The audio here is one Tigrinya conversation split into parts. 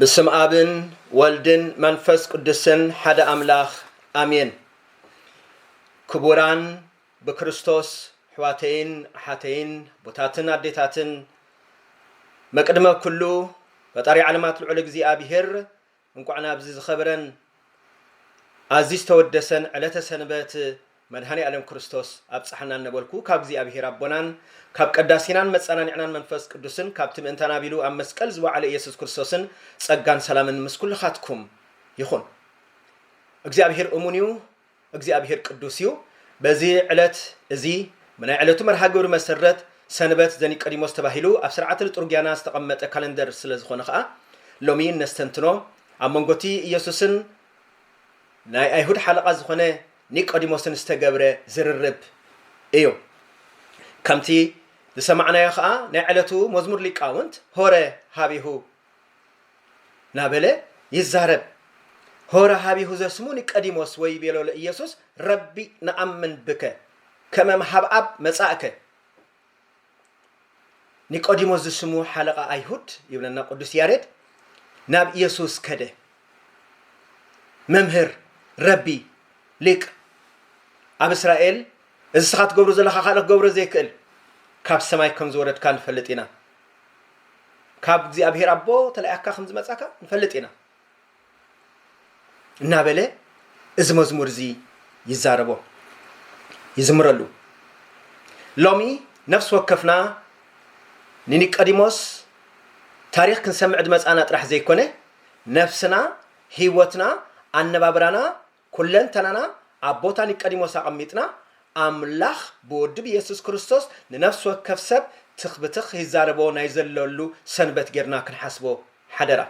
ብስም ኣብን ወልድን መንፈስ ቅዱስን ሓደ ኣምላኽ ኣሜን። ክቡራን ብክርስቶስ ኣሕዋተይን ኣሓተይን ቦታትን ኣዴታትን መቅድመ ኩሉ ፈጣሪ ዓለማት ልዑል እግዚኣብሔር እንኳዕ ናብዚ ዝኸበረን ኣዚ ዝተወደሰን ዕለተ ሰንበት መድኃኔኣለም ክርስቶስ ኣብጽሓና እነበልኩ ካብ እግዚኣብሔር ኣቦናን ካብ ቀዳሲናን መጻናኒዕናን መንፈስ ቅዱስን ካብቲ ምእንታና ቢሉ ኣብ መስቀል ዝወዓለ ኢየሱስ ክርስቶስን ጸጋን ሰላምን ምስ ኩልኻትኩም ይኹን እግዚኣብሔር እሙን እዩ እግዚኣብሔር ቅዱስ እዩ። በዚ ዕለት እዚ ብናይ ዕለቱ መርሃ ግብሪ መሰረት ሰንበት ዘኒቀዲሞስ ተባሂሉ ኣብ ሥርዓተ ልጡርጊያና ዝተቐመጠ ካለንደር ስለ ዝኾነ ከኣ ሎሚ እነስተንትኖ ኣብ መንጎ እቲ ኢየሱስን ናይ ኣይሁድ ሓለቓ ዝኾነ ኒቆዲሞስን ዝተገብረ ዝርርብ እዩ። ከምቲ ዝሰማዕናዮ ከኣ ናይ ዕለቱ መዝሙር ሊቃውንት ሆረ ኀቤሁ ናበለ ይዛረብ። ሆረ ሀቢሁ ዘስሙ ኒቀዲሞስ ወይቤሎ ለኢየሱስ ረቢ ነኣምን ብከ ከመ እምኀብኣብ መጻእከ። ኒቆዲሞስ ዝስሙ ሓለቓ ኣይሁድ ይብለና ቅዱስ ያሬድ ናብ ኢየሱስ ከደ። መምህር ረቢ ሊቅ ኣብ እስራኤል እዚ እስኻ ትገብሮ ዘለኻ ካልእ ክገብሮ ዘይክእል ካብ ሰማይ ከም ዝወረድካ ንፈልጥ ኢና። ካብ እግዚኣብሔር ኣቦ ተላኢካ ከም ዝመጻካ ንፈልጥ ኢና እናበለ እዚ መዝሙር እዚ ይዛረቦ ይዝምረሉ ሎሚ ነፍሲ ወከፍና ንኒቀዲሞስ ታሪክ ክንሰምዕ ድመጻና ጥራሕ ዘይኮነ ነፍስና ህይወትና ኣነባብራና ኩለንተናና ኣብ ቦታ ኒቀዲሞስ ኣቐሚጥና፣ ኣምላኽ ብወዱ ብየሱስ ክርስቶስ ንነፍሲ ወከፍ ሰብ ትኽ ብትኽ ኺዛረቦ ናይ ዘለሉ ሰንበት ጌርና ክንሓስቦ ሓደራ።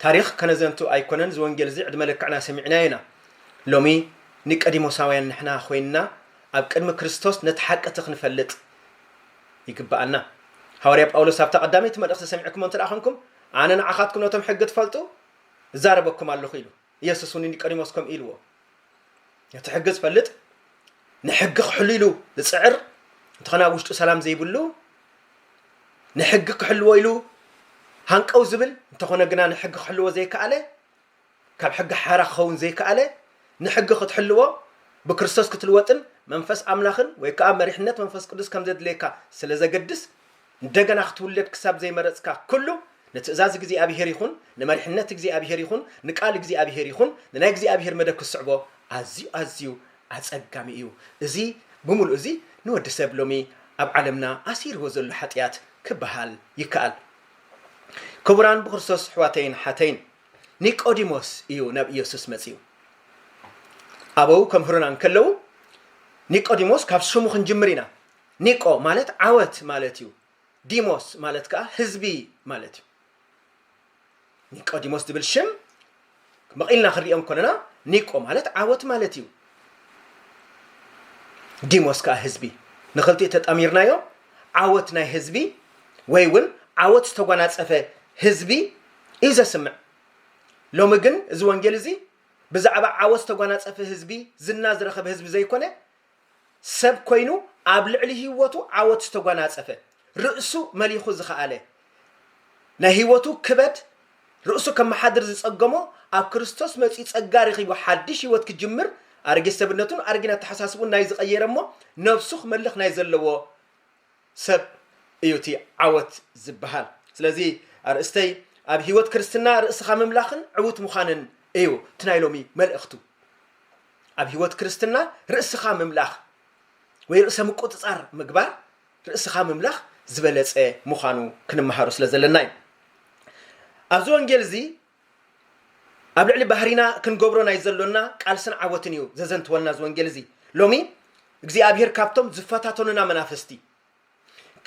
ታሪኽ ከነዘንቱ ኣይኮነን እዚ ወንጌል እዚ ዕድመ ልክዕና ሰሚዕናዮ ኢና። ሎሚ ኒቀዲሞሳውያን ንሕና ኮይንና ኣብ ቅድሚ ክርስቶስ ነቲ ሓቂ እቲ ክንፈልጥ ይግብኣና። ሃዋርያ ጳውሎስ ኣብታ ቀዳመይቲ መልእኽቲ ሰሚዕክሞ እንተ ኾንኩም ኣነ ንዓኻትኩም ነቶም ሕጊ ትፈልጡ እዛረበኩም ኣለኹ ኢሉ። ኢየሱስ እውን ኒቆዲሞስ ከምኡ ኢልዎ ነቲ ሕጊ ዝፈልጥ ንሕጊ ክሕሉ ኢሉ ዝፅዕር እንተኾነ ኣብ ውሽጡ ሰላም ዘይብሉ ንሕጊ ክሕልዎ ኢሉ ሃንቀው ዝብል እንተኾነ ግና ንሕጊ ክሕልዎ ዘይከኣለ ካብ ሕጊ ሓራ ክኸውን ዘይከኣለ ንሕጊ ክትሕልዎ ብክርስቶስ ክትልወጥን መንፈስ ኣምላኽን ወይ ከዓ መሪሕነት መንፈስ ቅዱስ ከም ዘድልየካ ስለ ዘገድስ እንደገና ክትውለድ ክሳብ ዘይመረጽካ ኩሉ ንትእዛዝ እግዚኣብሄር ይኹን ንመሪሕነት እግዚኣብሄር ይኹን ንቃል እግዚኣብሄር ይኹን ንናይ እግዚኣብሄር መደብ ክትስዕቦ ኣዝዩ ኣዝዩ ኣጸጋሚ እዩ። እዚ ብምሉኡ እዚ ንወዲ ሰብ ሎሚ ኣብ ዓለምና ኣሲርዎ ዘሎ ሓጥያት ክበሃል ይከኣል። ክቡራን ብክርስቶስ ኣሕዋተይን ኣሓተይን ኒቆዲሞስ እዩ ናብ ኢየሱስ መጺኡ። ኣበው ከምህሩና እንከለዉ ኒቆዲሞስ ካብ ስሙ ክንጅምር ኢና ኒቆ ማለት ዓወት ማለት እዩ። ዲሞስ ማለት ከኣ ህዝቢ ማለት እዩ። ኒቆዲሞስ ዝብል ሽም መቒልና ክንሪኦ እንከለና ኒቆ ማለት ዓወት ማለት እዩ። ዲሞስ ከኣ ህዝቢ ንክልቲኡ ተጣሚርናዮ ዓወት ናይ ህዝቢ ወይ እውን ዓወት ዝተጓናጸፈ ህዝቢ እዩ ዘስምዕ። ሎሚ ግን እዚ ወንጌል እዚ ብዛዕባ ዓወት ዝተጓናጸፈ ህዝቢ፣ ዝና ዝረኸበ ህዝቢ ዘይኮነ ሰብ ኮይኑ ኣብ ልዕሊ ህይወቱ ዓወት ዝተጓናጸፈ፣ ርእሱ መሊኹ ዝኸኣለ፣ ናይ ህይወቱ ክበድ ርእሱ ከመሓድር ዝጸገሞ ኣብ ክርስቶስ መጺኡ ጸጋ ረኺቡ ሓድሽ ህይወት ክጅምር ኣረጊት ሰብነቱን ኣረጊን ኣተሓሳስብኡን ናይ ዝቐየረ እሞ ነብሱ ክመልኽ ናይ ዘለዎ ሰብ እዩ እቲ ዓወት ዝበሃል። ስለዚ ኣርእስተይ ኣብ ሕይወት ክርስትና ርእስኻ ምምላኽን ዕውት ምዃንን እዩ እቲ ናይ ሎሚ መልእኽቱ። ኣብ ሕይወት ክርስትና ርእስኻ ምምላኽ ወይ ርእሰ ምቁጽጻር ምግባር ርእስኻ ምምላኽ ዝበለጸ ምዃኑ ክንመሃሩ ስለ ዘለና እዩ። ኣብዚ ወንጌል እዚ ኣብ ልዕሊ ባህሪና ክንገብሮ ናይ ዘሎና ቃልስን ዓወትን እዩ ዘዘንትወልና እዚ ወንጌል እዚ። ሎሚ እግዚኣብሄር ካብቶም ዝፈታተኑና መናፍስቲ፣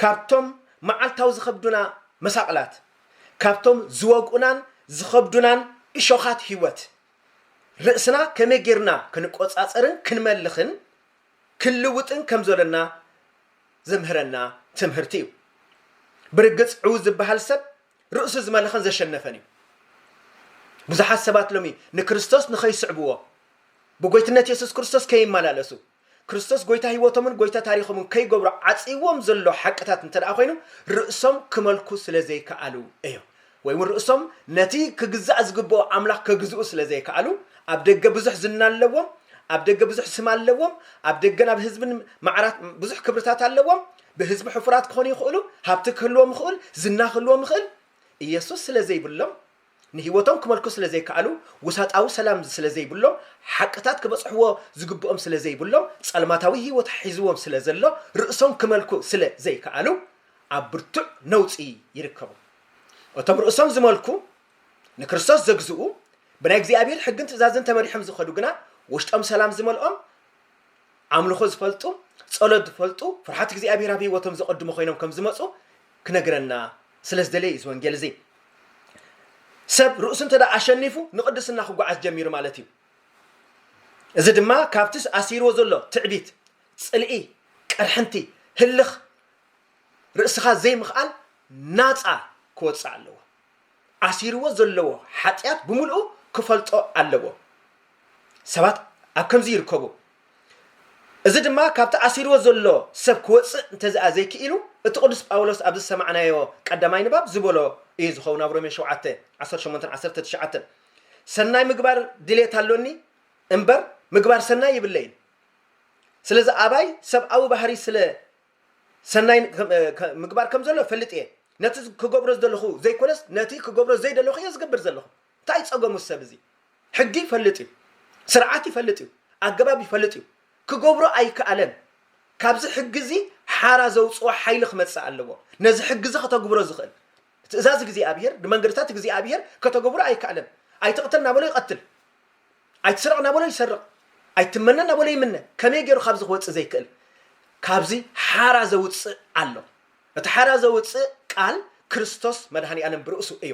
ካብቶም መዓልታዊ ዝኸብዱና መሳቕላት፣ ካብቶም ዝወግኡናን ዝኸብዱናን እሾኻት ህይወት ርእስና ከመይ ጌርና ክንቆጻጸርን ክንመልኽን ክንልውጥን ከም ዘሎና ዘምህረና ትምህርቲ እዩ። ብርግጽ ዕዉት ዝበሃል ሰብ ርእሱ ዝመለኸን ዘሸነፈን እዩ። ብዙሓት ሰባት ሎሚ ንክርስቶስ ንኸይስዕብዎ ብጎይትነት የሱስ ክርስቶስ ከይመላለሱ ክርስቶስ ጎይታ ህይወቶምን ጎይታ ታሪኾምን ከይገብሩ ዓፅይዎም ዘሎ ሓቅታት እንተ ደኣ ኮይኑ ርእሶም ክመልኩ ስለ ዘይከኣሉ እዮ ወይ እውን ርእሶም ነቲ ክግዛእ ዝግብኦ ኣምላኽ ከግዝኡ ስለ ዘይከኣሉ ኣብ ደገ ብዙሕ ዝና ኣለዎም ኣብ ደገ ብዙሕ ስም ኣለዎም ኣብ ደገ ናብ ህዝብን ማዕራት ብዙሕ ክብርታት ኣለዎም ብህዝቢ ሕፉራት ክኾኑ ይኽእሉ፣ ሃብቲ ክህልዎም ይኽእል፣ ዝና ክህልዎም ይኽእል፣ ኢየሱስ ስለ ዘይብሎም፣ ንህይወቶም ክመልኩ ስለ ዘይከኣሉ፣ ውሳጣዊ ሰላም ስለ ዘይብሎም፣ ሓቅታት ክበጽሕዎ ዝግብኦም ስለ ዘይብሎም፣ ጸልማታዊ ህይወት ሒዝዎም ስለ ዘሎ፣ ርእሶም ክመልኩ ስለ ዘይከኣሉ፣ ኣብ ብርቱዕ ነውጺ ይርከቡ። እቶም ርእሶም ዝመልኩ፣ ንክርስቶስ ዘግዝኡ፣ ብናይ እግዚኣብሔር ሕግን ትእዛዝን ተመሪሖም ዝኸዱ ግና ውሽጦም ሰላም ዝመልኦም፣ ኣምልኾ ዝፈልጡ፣ ጸሎት ዝፈልጡ፣ ፍርሓት እግዚኣብሄር ኣብ ህይወቶም ዘቐድሙ ኮይኖም ከም ዝመጹ ክነግረና ስለ ዝደለየ እዩ እዚ ወንጌል እዚ። ሰብ ርእሱ እንተ ደኣ ኣሸኒፉ ንቕድስና ክጓዓዝ ጀሚሩ ማለት እዩ። እዚ ድማ ካብቲ ኣሲርዎ ዘሎ ትዕቢት፣ ጽልኢ፣ ቅርሕንቲ፣ ህልኽ፣ ርእስኻ ዘይምኽኣል ናጻ ክወጽእ ኣለዎ። ኣሲርዎ ዘለዎ ሓጥያት ብምልኡ ክፈልጦ ኣለዎ። ሰባት ኣብ ከምዚ ይርከቡ። እዚ ድማ ካብቲ ኣሲርዎ ዘሎ ሰብ ክወጽእ እንተዝኣ ዘይክኢሉ እቲ ቅዱስ ጳውሎስ ኣብዚ ዝሰማዕናዮ ቀዳማይ ንባብ ዝበሎ እዩ ዝኸውን ኣብ ሮሜ ሸውዓተ፣ ዓሰርተ ሸሞንተን ዓሰርተ ትሽዓተን ሰናይ ምግባር ድሌት ኣሎኒ እምበር ምግባር ሰናይ ይብለይን ስለዚ ኣባይ ሰብኣዊ ባህሪ ስለ ሰናይ ምግባር ከም ዘሎ እፈልጥ እየ። ነቲ ክገብሮ ዝደለኹ ዘይኮነስ ነቲ ክገብሮ ዘይደለኹ እየ ዝገብር ዘለኹ። እንታይ ጸገሙ እዚ ሰብ እዚ? ሕጊ ይፈልጥ እዩ። ስርዓት ይፈልጥ እዩ። ኣገባብ ይፈልጥ እዩ። ክገብሮ ኣይከኣለን። ካብዚ ሕጊ እዚ ሓራ ዘውጽኦ ሓይሊ ክመጽእ ኣለዎ። ነዚ ሕጊ እዚ ከተግብሮ ዝኽእል ትእዛዝ እግዚኣብሄር ንመንገድታት እግዚኣብሄር ከተገብሮ ኣይከኣለን። ኣይትቕተል እናበሎ ይቐትል። ኣይትስረቕ እናበሎ ይሰርቕ፣ ኣይትመነ እናበሎ ይምነ፣ ከመይ ገይሩ ካብዚ ክወጽእ ዘይክእል? ካብዚ ሓራ ዘውጽእ ኣሎ። እቲ ሓራ ዘውጽእ ቃል ክርስቶስ መድኃኒኣለም ብርእሱ እዩ።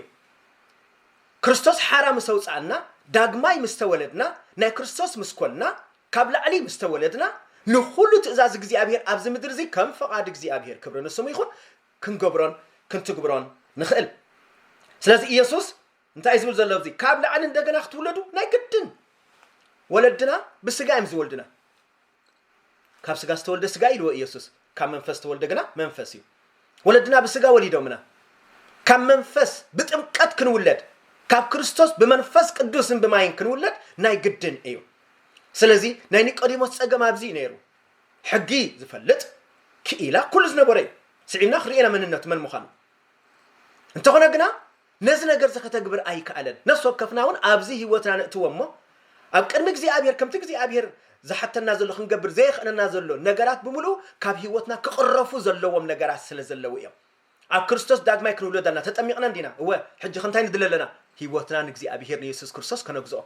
ክርስቶስ ሓራ ምስ ኣውጽኣና፣ ዳግማይ ምስ ተወለድና፣ ናይ ክርስቶስ ምስ ኮንና፣ ካብ ላዕሊ ምስ ተወለድና፣ ንኹሉ ትእዛዝ እግዚኣብሔር ኣብዚ ምድሪ እዚ ከም ፍቓድ እግዚኣብሔር ክብሪ ንስሙ ይኹን ክንገብሮን ክንትግብሮን ንኽእል። ስለዚ ኢየሱስ እንታይ ዝብል ዘሎ ኣብዚ ካብ ላዕሊ እንደገና ክትውለዱ ናይ ግድን ወለድና ብስጋ እዮም ዝወልድና ካብ ስጋ ዝተወልደ ስጋ ኢልዎ ኢየሱስ ካብ መንፈስ ዝተወልደ ግና መንፈስ እዩ ወለድና ብስጋ ወሊዶምና ካብ መንፈስ ብጥምቀት ክንውለድ ካብ ክርስቶስ ብመንፈስ ቅዱስን ብማይን ክንውለድ ናይ ግድን እዩ ስለዚ ናይ ኒቆዲሞስ ፀገም ኣብዚ እዩ ነይሩ ሕጊ ዝፈልጥ ክኢላ ኩሉ ዝነበረ እዩ ስዒብና ክርእና መንነቱ መን ምዃኑ እንተኾነ ግና ነዚ ነገርዚ ከተግብር ኣይከኣለን። ነፍሲ ወከፍና ውን ኣብዚ ህይወትና ነእትዎ እሞ ኣብ ቅድሚ እግዚኣብሄር ከምቲ እግዚኣብሄር ዝሓተና ዘሎ ክንገብር ዘየኽእለና ዘሎ ነገራት ብምልኡ ካብ ህይወትና ክቕረፉ ዘለዎም ነገራት ስለ ዘለዉ እዮም። ኣብ ክርስቶስ ዳግማይ ክንውለድ ኣና ተጠሚቕና እንዲና እወ ሕጂኸ እንታይ ንድለ ኣለና ህይወትና ንእግዚኣብሄር ንየሱስ ክርስቶስ ከነግዝኦ።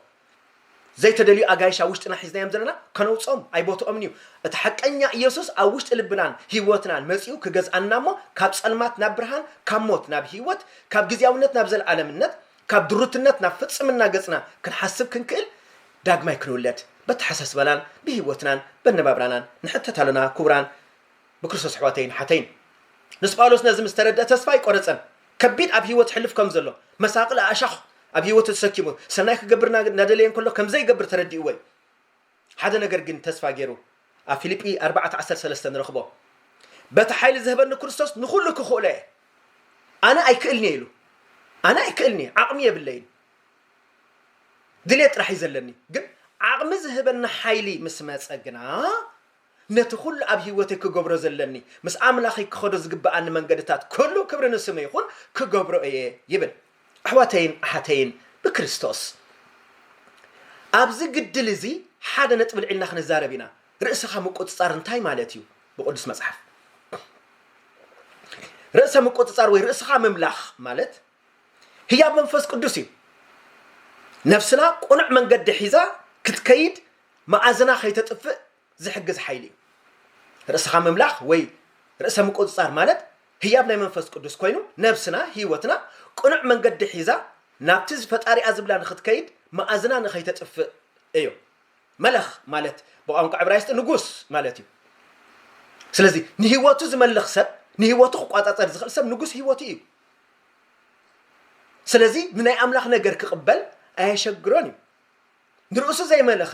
ዘይተደልዩ ኣጋይሽ ኣብ ውሽጥና ሒዝናዮም ዘለና ከነውጽኦም ኣይ ቦትኦምን እዩ። እቲ ሓቀኛ ኢየሱስ ኣብ ውሽጢ ልብናን ሕይወትናን መጺኡ ክገዝኣና እሞ ካብ ጸልማት ናብ ብርሃን ካብ ሞት ናብ ሕይወት ካብ ግዝያውነት ናብ ዘለዓለምነት ካብ ድሩትነት ናብ ፍጽምና ገጽና ክንሓስብ ክንክእል ዳግማይ ክንውለድ በተሓሳስባናን ብሕይወትናን በነባብራናን ንሕተት ኣሎና ክቡራን ብክርስቶስ ኣሕዋተይን ኣሓተይን ንስ ጳውሎስ ነዚ ምስ ተረድኣ ተስፋ ኣይቆረጸን ከቢድ ኣብ ህይወት ሕልፍ ከም ዘሎ መሳቕል ኣእሻኽ ኣብ ህይወቱ ተሰኪሙ ሰናይ ክገብር እናደለየ እንከሎ ከም ዘይገብር ተረዲእዎ እዩ ሓደ ነገር ግን ተስፋ ገይሩ ኣብ ፊልጲ 4:13 ንረኽቦ በቲ ሓይሊ ዝህበኒ ክርስቶስ ንኹሉ ክኽእሎ እየ ኣነ ኣይክእልኒ እየ ኢሉ ኣነ ኣይክእልኒ እየ ዓቕሚ የብለይን ድሌት ጥራሕ እዩ ዘለኒ ግን ዓቕሚ ዝህበኒ ሓይሊ ምስ መፀ ግና ነቲ ኩሉ ኣብ ህይወተይ ክገብሮ ዘለኒ፣ ምስ ኣምላኸይ ክኸዶ ዝግብኣኒ መንገድታት ኩሉ ክብሪ ንስሙ ይኹን ክገብሮ እየ ይብል። ኣሕዋተይን ኣሓተይን ብክርስቶስ ኣብዚ ግድል እዚ ሓደ ነጥቢ ልዒልና ክንዛረብ ኢና። ርእስኻ ምቁጽጻር እንታይ ማለት እዩ? ብቅዱስ መጽሓፍ ርእሰ ምቁጽጻር ወይ ርእስኻ ምምላኽ ማለት ህያብ መንፈስ ቅዱስ እዩ። ነፍስና ቁኑዕ መንገዲ ሒዛ ክትከይድ መኣዝና ከይተጥፍእ ዝሕግዝ ሓይሊ እዩ። ርእስኻ ምምላኽ ወይ ርእሰ ምቁጽጻር ማለት ህያብ ናይ መንፈስ ቅዱስ ኮይኑ ነብስና፣ ህይወትና፣ ቅኑዕ መንገዲ ሒዛ ናብቲ ፈጣሪኣ ዝብላ ንኽትከይድ መኣዝና ንኸይተጥፍእ እዩ። መለኽ ማለት ብቋንቋ ዕብራይስጢ ንጉስ ማለት እዩ። ስለዚ ንህይወቱ ዝመልኽ ሰብ ንህይወቱ ክቋጻጸር ዝኽእል ሰብ ንጉስ ህይወቱ እዩ። ስለዚ ንናይ ኣምላኽ ነገር ክቕበል ኣየሸግሮን እዩ። ንርእሱ ዘይመለኸ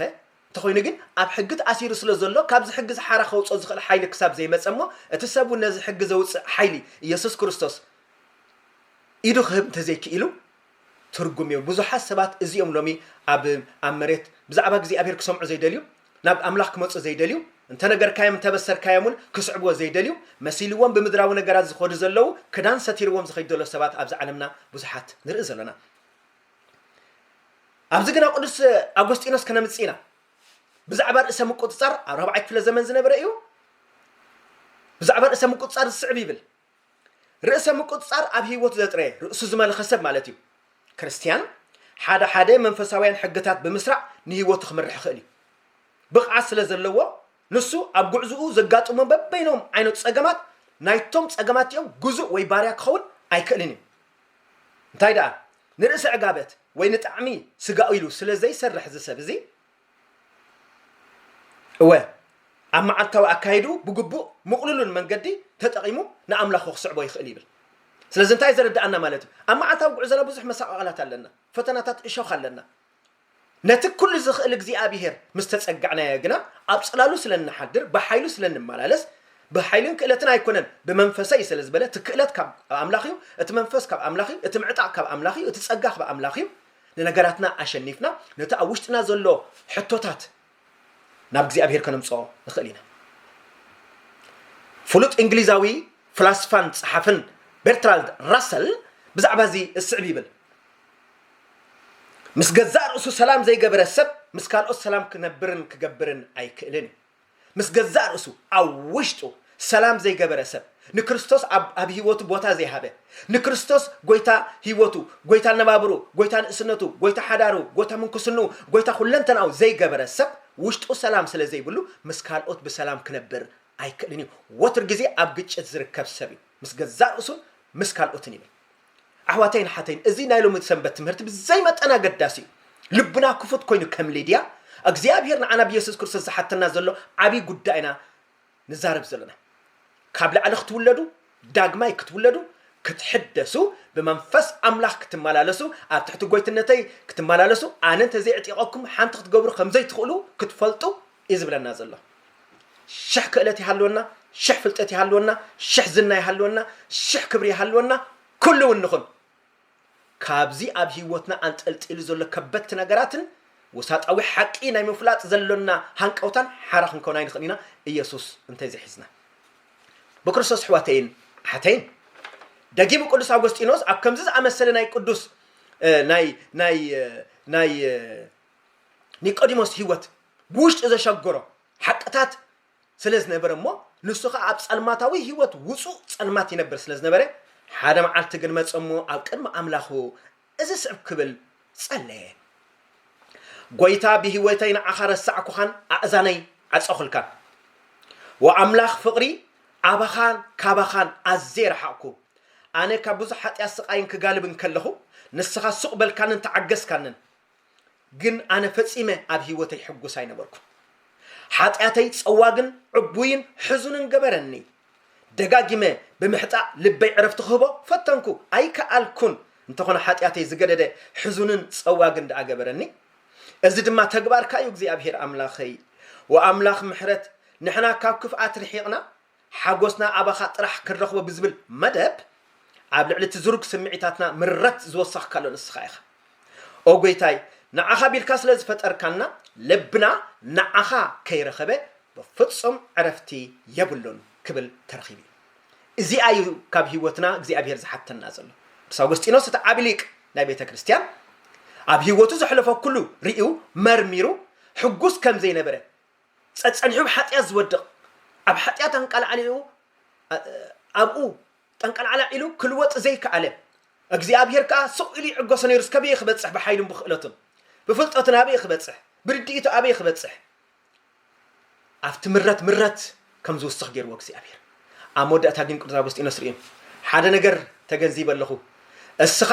እንተኾይኑ ግን ኣብ ሕጊ ተኣሲሩ ስለ ዘሎ ካብዚ ሕጊ እዚ ሓራ ከውጽኦ ዝኽእል ሓይሊ ክሳብ ዘይመጸ እሞ እቲ ሰብ እውን ነዚ ሕጊ ዘውጽእ ሓይሊ ኢየሱስ ክርስቶስ ኢዱ ክህብ እንተዘይክኢሉ ትርጉም የብሉ ብዙሓት ሰባት እዚኦም ሎሚ ኣብ ኣብ መሬት ብዛዕባ እግዚኣብሔር ክሰምዑ ዘይደልዩ ናብ ኣምላኽ ክመጹ ዘይደልዩ እንተነገርካዮም እንተበሰርካዮም እውን ክስዕብዎ ዘይደልዩ መሲልዎም ብምድራዊ ነገራት ዝኸዱ ዘለዉ ክዳን ሰቲርዎም ዝኸይድ ዘሎ ሰባት ኣብዚ ዓለምና ብዙሓት ንርኢ ዘለና ኣብዚ ግና ቅዱስ ኣጎስጢኖስ ከነምጽእ ኢና ብዛዕባ ርእሰ ምቁጽጻር ኣብ ራብዓይ ክፍለ ዘመን ዝነበረ እዩ ብዛዕባ ርእሰ ምቁጽጻር ዝስዕብ ይብል ርእሰ ምቁጽጻር ኣብ ህይወቱ ዘጥረ ርእሱ ዝመልኸ ሰብ ማለት እዩ ክርስትያን ሓደ ሓደ መንፈሳውያን ሕግታት ብምስራዕ ንህይወቱ ክምርሕ ይኽእል እዩ ብቕዓት ስለ ዘለዎ ንሱ ኣብ ጉዕዝኡ ዘጋጥሞ በበይኖም ዓይነት ጸገማት ናይቶም ጸገማት'ቲኦም ግዙእ ወይ ባርያ ክኸውን ኣይክእልን እዩ። እንታይ ደኣ ንርእሰ ዕጋበት ወይ ንጣዕሚ ስጋኡ ኢሉ ስለ ዘይሰርሕ እዚ ሰብ እዚ እወ ኣብ መዓልታዊ ኣካይድኡ ብግቡእ ምቕሉልን መንገዲ ተጠቒሙ ንኣምላኹ ክስዕቦ ይኽእል ይብል። ስለዚ እንታይ ዘረድኣና ማለት እዩ ኣብ መዓልታዊ ጉዕዞና ብዙሕ መሳቓቕላት ኣለና ፈተናታት እሾኽ ኣለና። ነቲ ኵሉ ዚኽእል እግዚኣብሄር ምስ ተጸጋዕናዮ ግና፣ ኣብ ጽላሉ ስለ እንሓድር፣ ብሓይሉ ስለ እንመላለስ፣ ብሓይልን ክእለትን ኣይኰነን፣ ብመንፈሰይ እዩ ስለ ዝበለ፣ እቲ ክእለት ካብ ኣምላኽ እዩ፣ እቲ መንፈስ ካብ ኣምላኽ እዩ፣ እቲ ምዕጣቕ ካብ ኣምላኽ እዩ፣ እቲ ጸጋ ካብ ኣምላኽ እዩ፣ ንነገራትና ኣሸኒፍና፣ ነቲ ኣብ ውሽጥና ዘሎ ሕቶታት ናብ እግዚኣብሄር ከነምጽኦ ንኽእል ኢና። ፍሉጥ እንግሊዛዊ ፍላስፋን ጸሓፍን ቤርትራልድ ራሰል ብዛዕባ እዚ እስዕብ ይብል ምስ ገዛእ ርእሱ ሰላም ዘይገበረ ሰብ ምስ ካልኦት ሰላም ክነብርን ክገብርን ኣይክእልን እዩ ምስ ገዛእ ርእሱ ኣብ ውሽጡ ሰላም ዘይገበረ ሰብ ንክርስቶስ ኣብ ኣብ ሂወቱ ቦታ ዘይሃበ ንክርስቶስ ጎይታ ሂወቱ ጎይታ ኣነባብርኡ ጎይታ ንእስነቱ ጎይታ ሓዳሩ ጎይታ ምንኩስንኡ ጎይታ ኩለንተናኡ ዘይገበረ ሰብ ውሽጡ ሰላም ስለ ዘይብሉ ምስ ካልኦት ብሰላም ክነብር ኣይክእልን እዩ ወትር ግዜ ኣብ ግጭት ዝርከብ ሰብ እዩ ምስ ገዛእ ርእሱን ምስ ካልኦትን ይብል ኣሕዋተይን ኣሓተይን እዚ ናይ ሎሚ ሰንበት ትምህርቲ ብዘይ መጠን ኣገዳሲ እዩ ልብና ክፉት ኮይኑ ከም ሊድያ እግዚኣብሄር ንዓና ብየሱስ ክርስቶስ ዝሓተና ዘሎ ዓብዪ ጉዳይና ንዛረብ ዘለና። ካብ ላዕሊ ክትውለዱ፣ ዳግማይ ክትውለዱ፣ ክትሕደሱ፣ ብመንፈስ ኣምላኽ ክትመላለሱ፣ ኣብ ትሕቲ ጎይትነተይ ክትመላለሱ፣ ኣነ እንተዘይዕጢቐኩም ሓንቲ ክትገብሩ ከም ዘይትኽእሉ ክትፈልጡ እዩ ዝብለና ዘሎ። ሽሕ ክእለት ይሃልወና፣ ሽሕ ፍልጠት ይሃልወና፣ ሽሕ ዝና ይሃልወና፣ ሽሕ ክብሪ ይሃልወና፣ ኩሉ እውን ንኹን። ካብዚ ኣብ ህይወትና ኣንጠልጢሉ ዘሎ ከበድቲ ነገራትን ወሳጣዊ ሓቂ ናይ ምፍላጥ ዘሎና ሃንቀውታን ሓራ ክንከውን ኣይንኽእልን ኢና፣ ኢየሱስ እንተ ዘይሒዝና። ብክርስቶስ ኣሕዋተይን ኣሓተይን፣ ደጊሙ ቅዱስ ኣጎስጢኖስ ኣብ ከምዚ ዝኣመሰለ ናይ ቅዱስ ናይ ናይ ናይ ኒቆዲሞስ ህይወት ብውሽጡ ዘሸገሮ ሓቅታት ስለ ዝነበረ እሞ ንሱ ኸኣ ኣብ ጸልማታዊ ህይወት ውጹእ ጸልማት ይነብር ስለ ዝነበረ፣ ሓደ መዓልቲ ግን መጸ እሞ ኣብ ቅድሚ ኣምላኹ እዚ ዝስዕብ ክብል ጸለየ፣ ጐይታ ብህይወተይ ንዓኻ ረሳዕኩኻን ኣእዛነይ ዓጸኹልካን። ኦ ኣምላኽ ፍቕሪ፣ ኣባኻን ካባኻን ኣዝየ ረሓቕኩ። ኣነ ካብ ብዙሕ ሓጢኣት ስቓይን ክጋልብን ከለኹ፣ ንስኻ ሱቕ በልካንን ተዓገስካንን። ግን ኣነ ፈጺመ ኣብ ህይወተይ ሕጉስ ኣይነበርኩን። ሓጢኣተይ ጸዋግን ዕቡይን ሕዙንን ገበረኒ። ደጋጊመ ብምሕጣእ ልበይ ዕረፍቲ ክህቦ ፈተንኩ፣ ኣይከኣልኩን። እንተኾነ ሓጢኣተይ ዝገደደ ሕዙንን ጸዋግን ደኣ ገበረኒ። እዚ ድማ ተግባርካ እዩ እግዚኣብሄር ኣምላኸይ። ወኣምላኽ ምሕረት ንሕና ካብ ክፍኣት ርሒቕና ሓጎስና ኣባኻ ጥራሕ ክንረኽቦ ብዝብል መደብ ኣብ ልዕሊ እቲ ዝሩግ ስምዒታትና ምረት ዝወሰኽካሉ ንስኻ ኢኻ። ኦ ጎይታይ ንዓኻ ቢልካ ስለ ዝፈጠርካና ልብና ንዓኻ ከይረኸበ ብፍጹም ዕረፍቲ የብሉን ክብል ተረኺቡ እዩ። እዚኣ እዩ ካብ ህይወትና እግዚኣብሄር ዝሓተና ዘሎ። ቅዱስ ኣጎስጢኖስ እቲ ዓቢ ሊቅ ናይ ቤተ ክርስቲያን ኣብ ህይወቱ ዘሕለፎ ኩሉ ርእዩ መርሚሩ ሕጉስ ከም ዘይነበረ ጸጸኒሑ ኣብ ሓጢኣት ዝወድቕ፣ ኣብ ሓጢኣት ኣንቃልዓሊኡ ኣብኡ ጠንቀልዓላዕ ኢሉ ክልወጥ ዘይከኣለ፣ እግዚኣብሄር ከኣ ስቕ ኢሉ ይዕገሶ ነይሩስ ከበየ ክበጽሕ ብሓይሉን ብክእለቱን ብፍልጠቱን ኣበየ ክበጽሕ ብርድኢቱ ኣበየ ክበጽሕ ኣብቲ ምረት ምረት ከም ዝውስኽ ገይርዎ እግዚኣብሄር ኣብ መወዳእታ ግን ቅዱስ ኣጎስጢኖስ ርእዩ ሓደ ነገር ተገንዚበ ኣለኹ እስኻ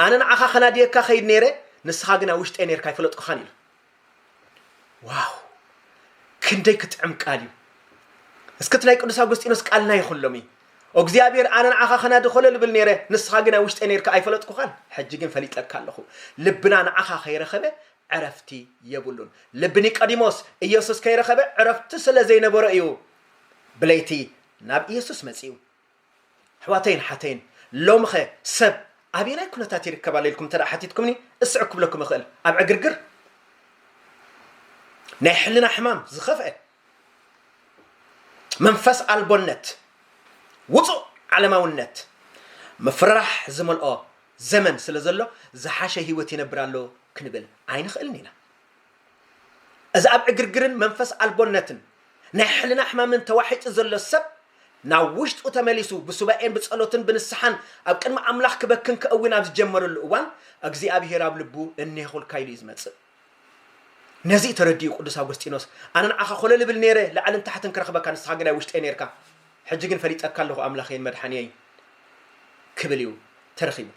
ኣነ ንዓኻ ከናድየካ ከይድ ነይረ ንስኻ ግን ኣብ ውሽጠይ ነይርካ ኣይፈለጥኩኻን ኢሉ ዋው ክንደይ ክትዕም ቃል እዩ እስክት ናይ ቅዱስ ኣጎስጢኖስ ቃል ናይ ኩሎም እዩ እግዚኣብሔር ኣነ ንዓኻ ከናድኸሎ ልብል ነይረ ንስኻ ግን ኣብ ውሽጠ ነርካ ኣይፈለጥኩኻን ሕጂ ግን ፈሊጠካ ኣለኹ ልብና ንዓኻ ከይረኸበ ዕረፍቲ የብሉን ልቢ ኒቆዲሞስ ኢየሱስ ከይረኸበ ዕረፍቲ ስለ ዘይነበሮ እዩ ብለይቲ ናብ ኢየሱስ መጺኡ ኣሕዋተይን ሓተይን ሎምኸ ሰብ ኣበየናይ ኩነታት ይርከብ ኣሎ ኢልኩም እንተ ሓቲትኩምኒ እስዕ ክብለኩም እኽእል ኣብ ዕግርግር ናይ ሕልና ሕማም ዝኸፍአ መንፈስ ኣልቦነት ውፁእ ዓለማውነት ምፍርራሕ ዝመልኦ ዘመን ስለ ዘሎ ዝሓሸ ህይወት ይነብር ኣሎ ክንብል ኣይንኽእልን ኢና እዚ ኣብ ዕግርግርን መንፈስ ኣልቦነትን ናይ ሕልና ሕማምን ተዋሒጡ ዘሎ ሰብ ናብ ውሽጡ ተመሊሱ ብሱባኤን ብጸሎትን ብንስሓን ኣብ ቅድሚ ኣምላኽ ክበክን ክእዊን ኣብ ዝጀመረሉ እዋን እግዚኣብሄር ኣብ ልቡ እኔኹልካ ኢሉ እዩ ዝመጽእ። ነዚ እዩ ተረዲኡ ቅዱስ ኣጎስጢኖስ ኣነ ንዓኻ ኮለል እብል ነይረ ላዕልን ታሕትን ክረኽበካ ንስኻ ግን ኣብ ውሽጠይ ነይርካ ሕጂ ግን ፈሊጠካ ኣለኹ ኣምላኸይን መድሓንየይን ክብል እዩ ተረኺቡ።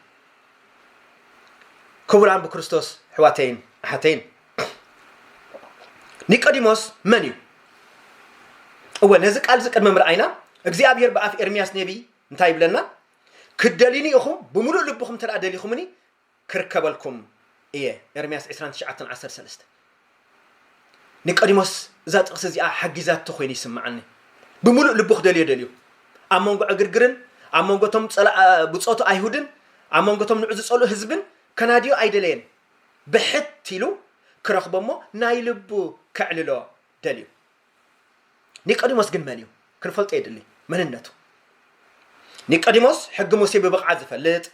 ክቡራን ብክርስቶስ ኣሕዋተይን ኣሓተይን ኒቆዲሞስ መን እዩ እወ ነዚ ቃል እዚ ቅድሚ ምርኣይና እግዚኣብሄር ብኣፍ ኤርምያስ ነቢይ እንታይ ይብለና ክደልዩኒ ኢኹም ብምሉእ ልብኹም እንተ ደሊኹምኒ ክርከበልኩም እየ ኤርምያስ 29 13 ኒቆዲሞስ እዛ ጥቕሲ እዚኣ ሓጊዛቶ ዀይኑ ይስምዓኒ። ብምሉእ ልቡ ኽደልዮ ደልዩ። ኣብ መንጎ ዕግርግርን ኣብ መንጎ እቶም ብጾቱ ኣይሁድን ኣብ መንጎ እቶም ንዑ ዝጸልኡ ህዝብን ከናድዮ ኣይደለየን። ብሕት ኢሉ ክረኽቦ እሞ ናይ ልቡ ከዕልሎ ደልዩ። ኒቆዲሞስ ግን መን እዩ? ክንፈልጦ የድሊ መንነቱ። ኒቆዲሞስ ሕጊ ሙሴ ብብቕዓት ዝፈልጥ፣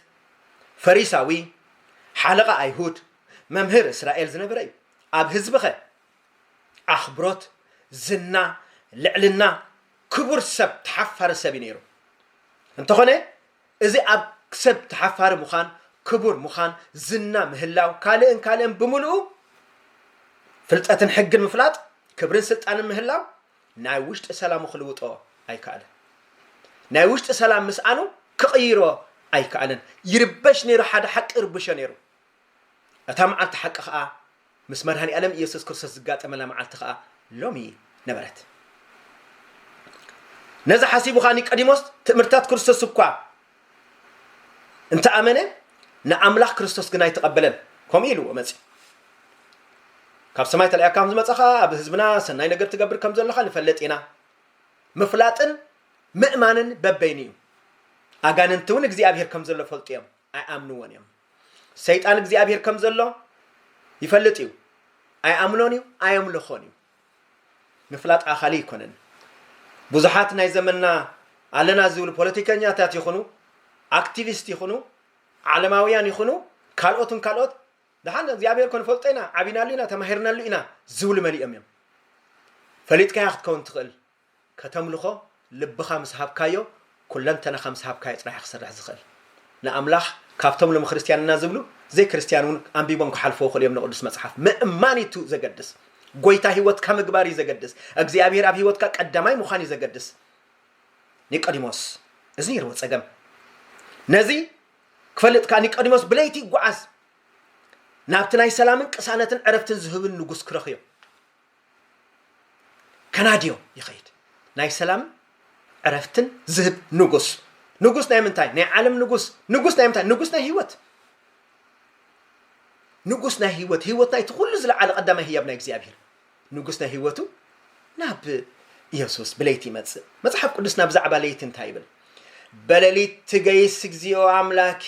ፈሪሳዊ፣ ሓለቓ ኣይሁድ፣ መምህር እስራኤል ዝነበረ እዩ ኣብ ህዝብኸ ኣኽብሮት ዝና ልዕልና ክቡር ሰብ ተሓፋሪ ሰብ እዩ ነይሩ እንተኾነ እዚ ኣብ ሰብ ተሓፋሪ ምዃን ክቡር ምዃን ዝና ምህላው ካልእን ካልእን ብምልኡ ፍልጠትን ሕግን ምፍላጥ ክብርን ስልጣንን ምህላው ናይ ውሽጢ ሰላሙ ክልውጦ ኣይከኣልን ናይ ውሽጢ ሰላም ምስኣኑ ክቕይሮ ኣይከኣልን ይርበሽ ነይሩ ሓደ ሓቂ ይርብሾ ነይሩ እታ መዓልቲ ሓቂ ከኣ ምስ መድኃኒኣለም ኢየሱስ ክርስቶስ ዝጋጠመላ መዓልቲ ከኣ ሎሚ ነበረት። ነዚ ሓሲቡ ከኣ ኒቀዲሞስ ትእምርትታት ክርስቶስ እኳ እንተ ኣመነ ንኣምላኽ ክርስቶስ ግን ኣይተቐበለን ከምኡ ኢልዎ መጺኡ። ካብ ሰማይ ተላኢካ ከም ዝመጻኻ ኣብ ህዝብና ሰናይ ነገር ትገብር ከም ዘለኻ ንፈልጥ ኢና። ምፍላጥን ምእማንን በበይኑ እዩ። ኣጋንንቲ እውን እግዚኣብሔር ከም ዘሎ ፈልጡ እዮም ኣይኣምንዎን እዮም። ሰይጣን እግዚኣብሄር ከም ዘሎ ይፈልጥ እዩ ኣይኣምኖን እዩ ኣየምልኾን እዩ ምፍላጥ ኣኻሊ ኣይኮነን ብዙሓት ናይ ዘመንና ኣለና ዝብሉ ፖለቲከኛታት ይኹኑ ኣክቲቪስት ይኹኑ ዓለማውያን ይኹኑ ካልኦትን ካልኦት ድሓን እግዚኣብሄር ኮን ፈልጦ ኢና ዓቢናሉ ኢና ተማሂርናሉ ኢና ዝብሉ መሊኦም እዮም ፈሊጥካያ ክትከውን ትኽእል ከተምልኾ ልብኻ ምስ ሃብካዮ ኩለንተናኻ ምስ ሃብካዮ ጥራሕ እዩ ክሰርሕ ዝኽእል ንኣምላኽ ካብቶም ሎሚ ክርስትያን እና ዝብሉ ዘይክርስትያን እውን ኣንቢቦም ክሓልፍዎ ይኽእሉ እዮም ንቅዱስ መጽሓፍ ምእማን እዩ ዘገድስ ጎይታ ህይወትካ ምግባር እዩ ዘገድስ እግዚኣብሔር ኣብ ህይወትካ ቀዳማይ ምዃን እዩ ዘገድስ ኒቆዲሞስ እዚ ነይርዎ ጸገም ነዚ ክፈልጥ ከዓ ኒቆዲሞስ ብለይቲ ይጓዓዝ ናብቲ ናይ ሰላምን ቅሳነትን ዕረፍትን ዝህብን ንጉስ ክረኽዮ ከናድዮ ይኸይድ ናይ ሰላምን ዕረፍትን ዝህብ ንጉስ ንጉስ ናይ ምንታይ ናይ ዓለም ንጉስ ንጉስ ናይ ምንታይ ንጉስ ናይ ህይወት ንጉስ ናይ ህይወት ህይወት ናይቲ ኩሉ ዝለዓለ ቀዳማይ ህያብ ናይ እግዚኣብሔር ንጉስ ናይ ህይወቱ ናብ ኢየሱስ ብለይቲ ይመጽእ መጽሓፍ ቅዱስና ብዛዕባ ለይቲ እንታይ ይብል በሌሊት ትገይስ እግዚኦ አምላኬ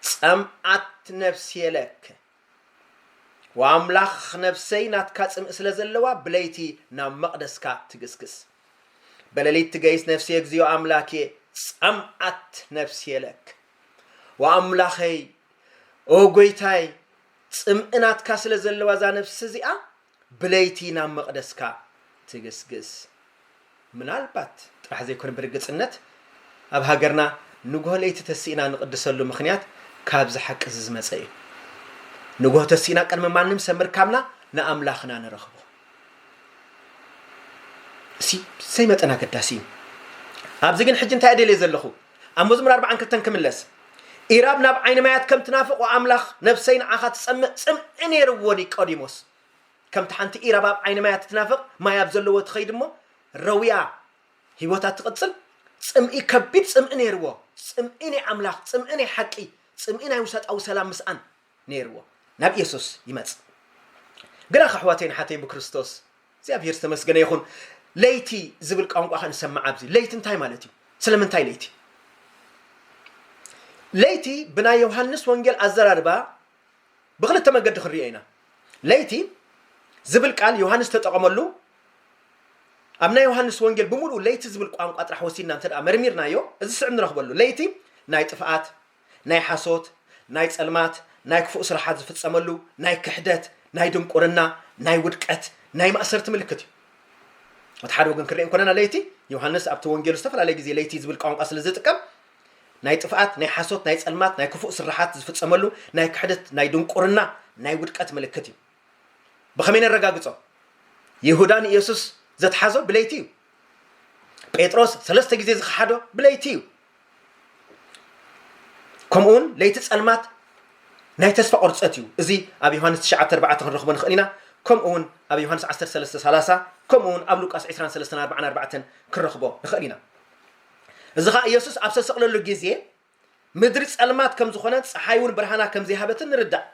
ጸምአት ነፍሴ ለከ ኣምላኽ ነፍሰይ ናትካ ጽምኢ ስለ ዘለዋ ብለይቲ ናብ መቕደስካ ትግስግስ በለሊት ትገይስ ነፍስየ እግዚኦ ኣምላክየ ጸምኣት ነፍስየ ለክ ወኣምላኸይ ኦ ጎይታይ ጽምኢ ናትካ ስለ ዘለዋ እዛ ነፍሲ እዚኣ ብለይቲ ናብ መቕደስካ ትግስግስ። ምናልባት ጥራሕ ዘይኮነ ብርግጽነት ኣብ ሃገርና ንግሆ ለይቲ ተሲእና ንቕድሰሉ ምኽንያት ካብዚ ሓቂዚ ዝመጸ እዩ። ንግሆ ተሲእና ቅድሚ ማንም ሰብ ምርካብና ንኣምላኽና ንረኽቦ። እዚ ብዘይመጠን ኣገዳሲ እዩ። ኣብዚ ግን ሕጂ እንታይ እየ ደልየ ዘለኹ? ኣብ መዝሙር ኣርብዓን ክልተን ክምለስ ኢራብ ናብ ዓይኒ ማያት ከም ትናፍቕ ኣምላኽ ነብሰይ ንዓኻ ትጸምእ ጽምኢ ነይርዎኒ ቀዲሞስ ከምቲ ሓንቲ ኢራብ ኣብ ዓይኒ ማያት ትናፍቕ ማይ ኣብ ዘለዎ ትኸይድ እሞ ረውያ ህይወታ ትቕጽል ጽምኢ ከቢድ ጽምኢ ነይርዎ ጽምኢ ናይ ኣምላኽ ጽምኢ ናይ ሓቂ ጽምኢ ናይ ውሰጣዊ ሰላም ምስኣን ነይርዎ ናብ ኢየሱስ ይመጽእ ግናኽ ኣሕዋተይን ሓተይ ብክርስቶስ እግዚኣብሔር ዝተመስገነ ይኹን ለይቲ ዝብል ቋንቋ ከ ንሰምዕ ኣብዚ ለይቲ እንታይ ማለት እዩ ስለምንታይ ለይቲ ለይቲ ብናይ ዮሃንስ ወንጌል ኣዘራርባ ብክልተ መገዲ ክንሪኦ ኢና ለይቲ ዝብል ቃል ዮሃንስ ተጠቐመሉ ኣብ ናይ ዮሃንስ ወንጌል ብምሉእ ለይቲ ዝብል ቋንቋ ጥራሕ ወሲድና እንተ መርሚርናዮ እዚ ስዕብ ንረኽበሉ ለይቲ ናይ ጥፍኣት ናይ ሓሶት፣ ናይ ጸልማት፣ ናይ ክፉእ ስራሓት ዝፍጸመሉ፣ ናይ ክሕደት፣ ናይ ድንቁርና፣ ናይ ውድቀት፣ ናይ ማእሰርቲ ምልክት እዩ። እቲ ሓደ ወገን ክንርኢ እንኮለና ለይቲ፣ ዮሃንስ ኣብቲ ወንጌሉ ዝተፈላለየ ግዜ ለይቲ ዝብል ቋንቋ ስለ ዝጥቀም፣ ናይ ጥፍኣት፣ ናይ ሓሶት፣ ናይ ጸልማት፣ ናይ ክፉእ ስራሓት ዝፍጸመሉ፣ ናይ ክሕደት፣ ናይ ድንቁርና፣ ናይ ውድቀት ምልክት እዩ። ብኸመይ ነረጋግጾ? ይሁዳ ንየሱስ ዘትሓዞ ብለይቲ እዩ። ጴጥሮስ ሰለስተ ግዜ ዝኸሓዶ ብለይቲ እዩ ከምኡውን ለይቲ ጸልማት ናይ ተስፋ ቁርፀት እዩ እዚ ኣብ ዮሃንስ 94 ክንረኽቦ ንኽእል ኢና ከምኡውን ኣብ ዮሃንስ 1330 ከምኡውን ኣብ ሉቃስ 2344 ክንረኽቦ ንኽእል ኢና እዚ ከዓ ኢየሱስ ኣብ ዝተሰቕለሉ ግዜ ምድሪ ጸልማት ከም ዝኾነ ፀሓይ እውን ብርሃና ከም ዘይሃበትን ንርዳእ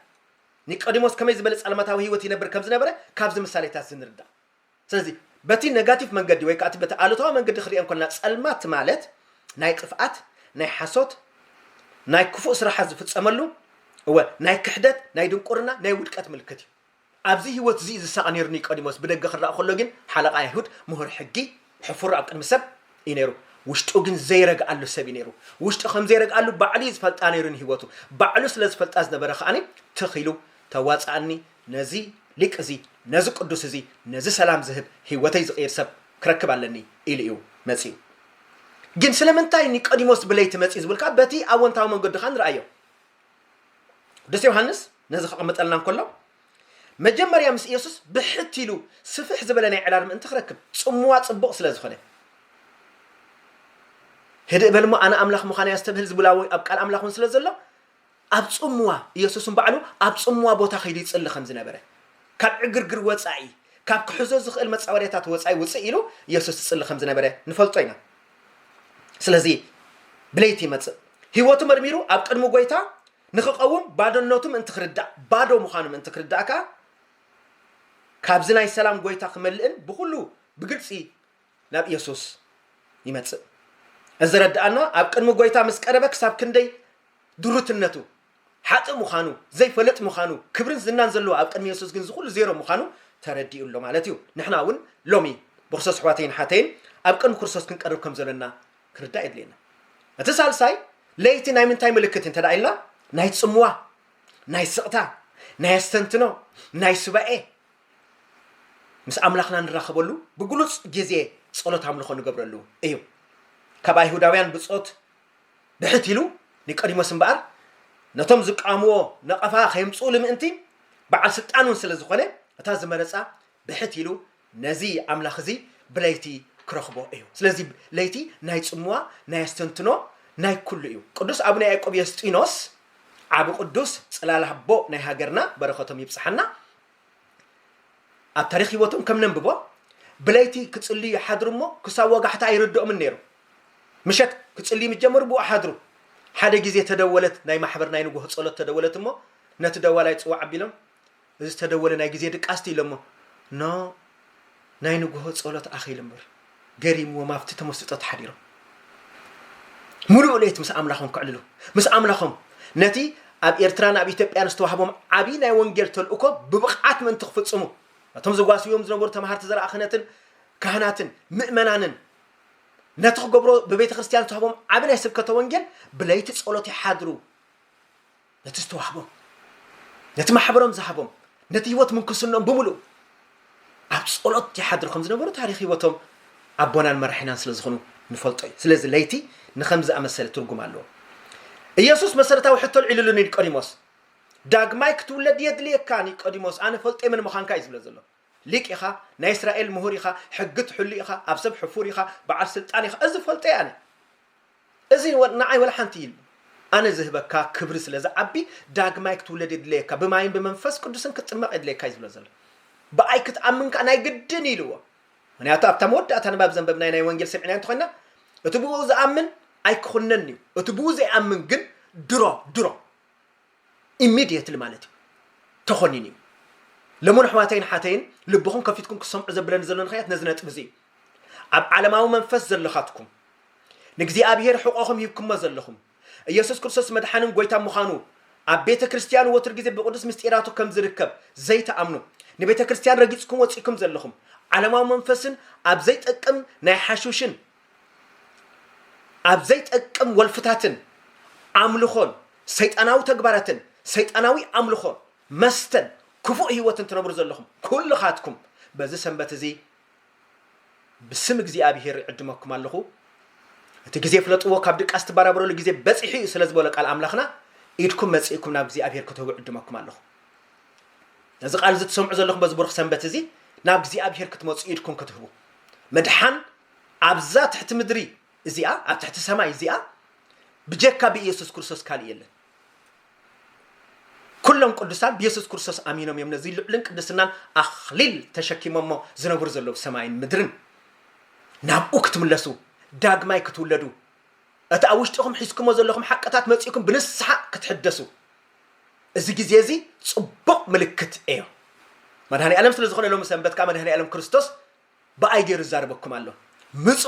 ኒቆዲሞስ ከመይ ዝበለ ጸልማታዊ ህይወት ይነብር ከም ዝነበረ ካብዚ ምሳሌታት እዚ ንርዳእ ስለዚ በቲ ነጋቲቭ መንገዲ ወይ ከኣቲ በቲ ኣሉታዊ መንገዲ ክሪኦ እንኮለና ጸልማት ማለት ናይ ጥፍኣት ናይ ሓሶት ናይ ክፉእ ስራሓት ዝፍጸመሉ እወ ናይ ክሕደት ናይ ድንቁርና ናይ ውድቀት ምልክት እዩ ኣብዚ ህይወት እዚ ዝሳቐ ነይሩ ኒቆዲሞስ ብደገ ክረኣ ከሎ ግን ሓለቓ ኣይሁድ ምሁር ሕጊ ሕፉር ኣብ ቅድሚ ሰብ እዩ ነይሩ ውሽጡ ግን ዘይረግኣሉ ሰብ እዩ ነይሩ ውሽጡ ከም ዘይረግኣሉ ባዕሉ እዩ ዝፈልጣ ነይሩ ንህይወቱ ባዕሉ ስለ ዝፈልጣ ዝነበረ ከኣኒ ትኽ ኢሉ ተዋጻኣኒ ነዚ ሊቅ እዚ፣ ነዚ ቅዱስ እዚ፣ ነዚ ሰላም ዝህብ፣ ህይወተይ ዝቕይር ሰብ ክረክብ ኣለኒ ኢሉ እዩ መጺኡ። ግን ስለምንታይ ኒቆዲሞስ ብለይቲ መጺኡ ዝብል ከኣ በቲ ኣወንታዊ መንገዱ ከኣ ንርኣዮ። ቅዱስ ዮሃንስ ነዚ ከቐምጠልና እንከሎ መጀመርያ ምስ ኢየሱስ ብሕት ኢሉ ስፍሕ ዝበለ ናይ ዕላል ምእንቲ ክረክብ ጽምዋ ጽቡቕ ስለ ዝኾነ ህድእ በል እሞ ኣነ ኣምላኽ ምዃነይ ኣስተብህል ዝብል ኣብ ቃል ኣምላኽ እውን ስለ ዘሎ ኣብ ጽምዋ፣ ኢየሱስ ንባዕሉ ኣብ ጽምዋ ቦታ ከይዱ ይጽሊ ከም ዝነበረ፣ ካብ ዕግርግር ወጻኢ፣ ካብ ክሕዞ ዝኽእል መጻወድያታት ወጻኢ ውጽእ ኢሉ ኢየሱስ ይጽሊ ከም ዝነበረ ንፈልጦ ኢና። ስለዚ ብለይቲ ይመጽእ። ህይወቱ መርሚሩ ኣብ ቅድሚ ጎይታ ንክቐውም ባዶነቱ ምእንቲ ክርዳእ፣ ባዶ ምዃኑ ምእንቲ ክርዳእ ከኣ ካብዚ ናይ ሰላም ጎይታ ክመልእን ብኹሉ ብግልጺ ናብ ኢየሱስ ይመጽእ። እዚ ዘረድኣና ኣብ ቅድሚ ጎይታ ምስ ቀረበ ክሳብ ክንደይ ድሩትነቱ፣ ሓጥእ ምዃኑ፣ ዘይፈለጥ ምዃኑ፣ ክብርን ዝናን ዘለዎ ኣብ ቅድሚ ኢየሱስ ግን እዚ ኩሉ ዜሮ ምዃኑ ተረዲኡ ኣሎ ማለት እዩ። ንሕና እውን ሎሚ ብክርስቶስ ኣሕዋተይን ሓተይን ኣብ ቅድሚ ክርስቶስ ክንቀርብ ከም ዘሎና ክርዳእ የድልየና። እቲ ሳልሳይ ለይቲ ናይ ምንታይ ምልክት እንተ ደኣ ኢልና ናይ ጽምዋ፣ ናይ ስቕታ፣ ናይ ኣስተንትኖ፣ ናይ ሱባኤ፣ ምስ ኣምላኽና ንራኸበሉ ብግሉጽ ግዜ ጸሎት ኣምልኾ ንገብረሉ እዩ። ካብ ኣይሁዳውያን ብጾት ብሕት ኢሉ ኒቆዲሞስ እምበኣር ነቶም ዝቃወምዎ ነቐፋ ከየምጽኡሉ ምእንቲ በዓል ስልጣን እውን ስለ ዝኾነ እታ ዝመረጻ ብሕት ኢሉ ነዚ ኣምላኽ እዚ ብለይቲ ክረኽቦ እዩ። ስለዚ ለይቲ ናይ ጽምዋ፣ ናይ ኣስተንትኖ፣ ናይ ኩሉ እዩ። ቅዱስ ኣቡነ ያዕቆብ የስጢኖስ ዓቢ ቅዱስ ጽላል ኣቦ ናይ ሃገርና በረኸቶም ይብጽሓና። ኣብ ታሪኽ ህይወቶም ከም ነንብቦ ብለይቲ ክጽልዩ ይሓድሩ እሞ ክሳብ ወጋሕታ ኣይርድኦምን ነይሩ። ምሸት ክጽልዩ ምስ ጀመሩ ብኡ ሓድሩ። ሓደ ግዜ ተደወለት ናይ ማሕበር ናይ ንጉሆ ጸሎት ተደወለት እሞ ነቲ ደዋላይ ጽዋዕ ኣቢሎም እዚ ዝተደወለ ናይ ግዜ ድቃስ'ቲ ኢሎሞ ን ናይ ንግሆ ጸሎት ኣኺሉ እምበር፣ ገሪምዎም ኣብቲ ተመስጦ ተሓዲሮም። ምሉእ ለይት ምስ ኣምላኾም ከዕልሉ፣ ምስ ኣምላኾም ነቲ ኣብ ኤርትራን ኣብ ኢትዮጵያን ዝተዋህቦም ዓቢ ናይ ወንጌል ተልእኮ ብብቕዓት ምእንቲ ክፍጽሙ፣ ነቶም ዝጓስይዎም ዝነበሩ ተማሃርቲ ዘርኣ ክህነትን ካህናትን ምእመናንን ነቲ ክገብሮ ብቤተ ክርስትያን ዝተዋህቦም ዓቢ ናይ ስብከተ ወንጌል ብለይቲ ጸሎት ይሓድሩ። ነቲ ዝተዋህቦም ነቲ ማሕበሮም ዝሃቦም ነቲ ህይወት ምንኩስኖም ብምሉእ ኣብ ጸሎት ይሓድሩ ከም ዝነበሩ ታሪክ ህይወቶም ኣቦናን መራሒናን ስለ ዝኾኑ ንፈልጦ እዩ ስለዚ ለይቲ ንከም ዝኣመሰለ ትርጉም ኣለዎ ኢየሱስ መሰረታዊ ሕቶ ልዒልሉ ኒቆዲሞስ ዳግማይ ክትውለድ የድልየካ ኒቆዲሞስ ኣነ ፈልጦ የመን ምዃንካ እዩ ዝብለ ዘሎ ሊቅ ኢኻ ናይ እስራኤል ምሁር ኢኻ ሕጊ ትሕሉ ኢኻ ኣብ ሰብ ሕፉር ኢኻ በዓል ስልጣን ኢኻ እዚ ፈልጦ እየ ኣነ እዚ ንዓይ ወላ ሓንቲ ኢል ኣነ ዝህበካ ክብሪ ስለ ዝዓቢ ዳግማይ ክትውለድ የድለየካ ብማይን ብመንፈስ ቅዱስን ክትጥመቕ የድለየካ እዩ ዝብሎ ዘሎ። ብኣይ ክትኣምን ከኣ ናይ ግድን እዩ ኢልዎ። ምኽንያቱ ኣብታ መወዳእታ ንባብ ዘንበብናዮ ናይ ወንጌል ሰሚዕናዮ እንተኾይንና እቲ ብእኡ ዝኣምን ኣይክኹነንን'ዩ እቲ ብኡ ዘይኣምን ግን ድሮ ድሮ ኢሚድየትሊ ማለት እዩ ተኾኒኑ እዩ። ለሞን ኣሕዋተይን ኣሓተይን ልብኹም ከፊትኩም ክትሰምዑ ዘብለኒ ዘሎ ንክያት ነዚ ነጥቢ እዚ እዩ። ኣብ ዓለማዊ መንፈስ ዘለኻትኩም ንእግዚኣብሔር ሕቆኹም ሂብኩሞ ዘለኹም ኢየሱስ ክርስቶስ መድሓንን ጎይታ ምዃኑ ኣብ ቤተ ክርስቲያን ወትር ግዜ ብቅዱስ ምስጢራቱ ከም ዝርከብ ዘይትኣምኑ ንቤተ ክርስቲያን ረጊጽኩም ወጺእኩም ዘለኹም ዓለማዊ መንፈስን ኣብ ዘይጠቅም ናይ ሓሹሽን ኣብ ዘይጠቅም ወልፍታትን ኣምልኾን ሰይጣናዊ ተግባራትን ሰይጣናዊ ኣምልኾን መስተን ክፉእ ህይወትን ትነብሩ ዘለኹም ኩልኻትኩም በዚ ሰንበት እዚ ብስም እግዚኣብሄር ይዕድመኩም ኣለኹ እቲ ግዜ ፍለጥዎ ካብ ድቃስ ትበራበረሉ ግዜ በፂሑ እዩ ስለ ዝበሎ ቃል ኣምላኽና ኢድኩም መፂእኩም ናብ እግዚኣብሄር ክትህቡ ዕድመኩም ኣለኹ ነዚ ቃል እዚ ትሰምዑ ዘለኹም በዚ ብሩኽ ሰንበት እዚ ናብ እግዚኣብሄር ክትመፁ ኢድኩም ክትህቡ ምድሓን ኣብዛ ትሕቲ ምድሪ እዚኣ ኣብ ትሕቲ ሰማይ እዚኣ ብጀካ ብኢየሱስ ክርስቶስ ካልእ የለን። ኩሎም ቅዱሳን ብየሱስ ክርስቶስ ኣሚኖም እዮም ነዚ ልዑልን ቅድስናን ኣኽሊል ተሸኪሞሞ ዝነብሩ ዘለዉ ሰማይን ምድርን ናብኡ ክትምለሱ ዳግማይ ክትውለዱ እቲ ኣብ ውሽጢኹም ሒዝኩሞ ዘለኹም ሓቅታት መጺእኩም ብንስሓ ክትሕደሱ እዚ ግዜ እዚ ጽቡቕ ምልክት እዮ መድሃኒ ዓለም ስለ ዝኾነ ሎሚ ሰንበት ከዓ መድሃኒ ዓለም ክርስቶስ ብኣይ ገይሩ ይዛረበኩም ኣሎ ምጹ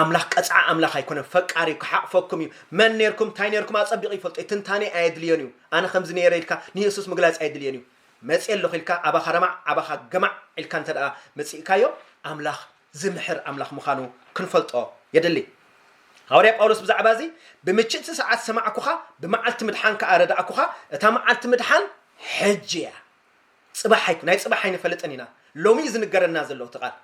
ኣምላኽ ቀጽዓ ኣምላኽ ኣይኮነን ፈቃር እዩ ክሓቕፈኩም እዩ መን ነርኩም እንታይ ነርኩም ኣጸቢቑ ይፈልጦ እዩ ትንታኔ ኣየድልዮን እዩ ኣነ ከምዚ ነረ ኢልካ ንየሱስ ምግላጽ ኣየድልዮን እዩ መጽ ኣለኹ ኢልካ ኣባኻ ረማዕ ኣባኻ ገማዕ ኢልካ እንተ ደኣ መጺእካዮ ኣምላኽ ዝምሕር ኣምላኽ ምዃኑ ክንፈልጦ የድሊ ሃዋርያ ጳውሎስ ብዛዕባ እዚ ብምችእቲ ሰዓት ሰማዕኩኻ ብመዓልቲ ምድሓን ከኣ ረዳእኩኻ እታ መዓልቲ ምድሓን ሕጂ እያ ጽባሕ ኣይኩ ናይ ጽባሕ ኣይንፈልጥን ኢና ሎሚ እዩ ዝንገረና ዘሎ እቲ ቃል